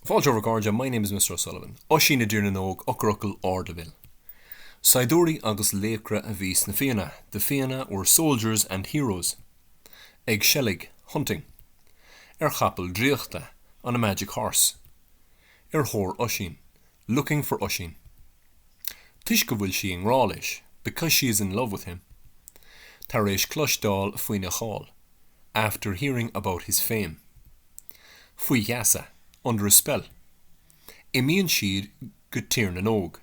Fáilte. My name is Mr O'Sullivan. Oisín i dTír na nÓg Eochairfhocail Ardleibhéil Saighdiúirí agus laochra a bhí sna Fianna The Fianna were soldiers and heroes. Ag seilg Hunting. Ar chapall draíochta On a magic horse. Ar thóir Oisín Looking for Oisín. Toisc go bhfuil sí i ngrá leis Because she is in love with him. Tar éis cloisteáil faoina cháil After hearing about his fame. faoi gheasa, under a spell. Imíonn siad go Tír na nÓg,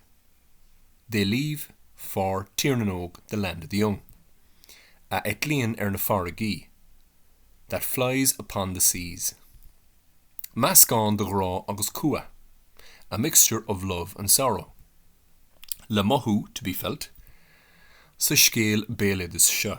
they leave for Tír na nÓg, the land of the young. a eitlíonn ar na farraigí, that flies upon the seas. Meascán de ghrá agus cumha, a mixture of love and sorrow. Le mothú, to be felt, sa scéal béaloidis seo.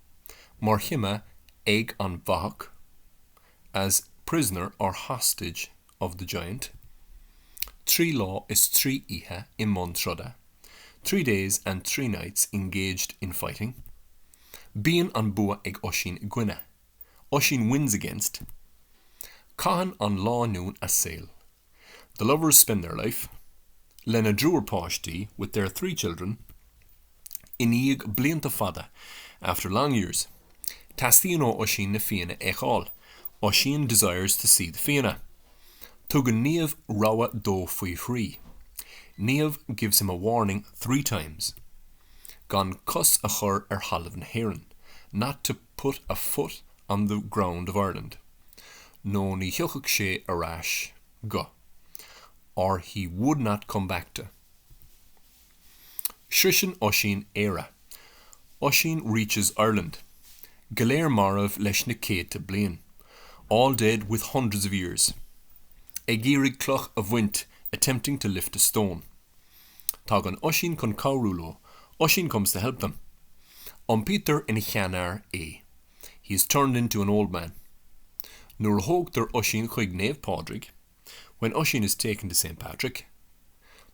mar chime ag an bhfathach, as prisoner or hostage of the giant, trí lá is trí oíche i mbun troda, three days and three nights engaged in fighting, bíonn an bua ag Oisín i gcoinne, Oisín wins against, caitheann an lánúin a saol, The lovers spend their life, lena dtriúr páistí, with their three children, i ndiaidh blianta fada, after long years. Teastaíonn ó Oisín na Fianna a fheiceáil, Oisín desires to see the Fianna. Tugann Niamh rabhadh dó faoi thrí, Niamh gives him a warning three times. gan cos a chur ar thalamh na hÉireann, not to put a foot on the ground of Ireland', nó ní thiocfadh sé ar ais go, or he would not come back to. Sroiseann Oisín Éire, 'Oisín reaches Ireland'. Go léir marbh leis na céadta bliain, 'all dead with hundreds of years'. Ag iarraidh cloch a bhaint, 'attempting to lift a stone'. Tagann Oisín chun cabhrú leo, Oisín comes to help them. Iompaítear ina sheanfhear é, he is turned into an old man. Nuair a thógtar Oisín chuig Naomh Pádraig, when Oisín is taken to Saint Patrick.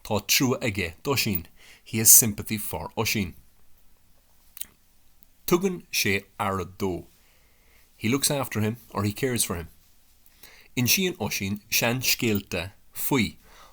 Tá trua aige d'Oisín, he has sympathy for Oisín. Tugann sé aire dó, he looks after him or he cares for him. Insíonn Oisín seanscéalta faoi,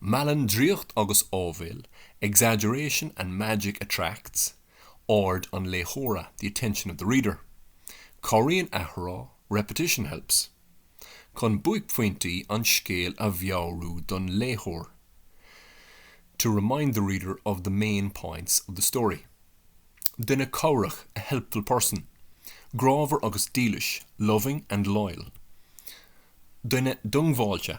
Meallann draíocht agus áibhéil, exaggeration and magic attracts, aird an léitheora, the attention of the reader. Cabhraíonn athrá, repetition helps, chun buaicphointí an scéil a mheabhrú don léitheoir, to remind the reader of the main points of the story. Duine cabhrach, a helpful person. Grámhar agus dílis, loving and loyal. Duine diongbháilte,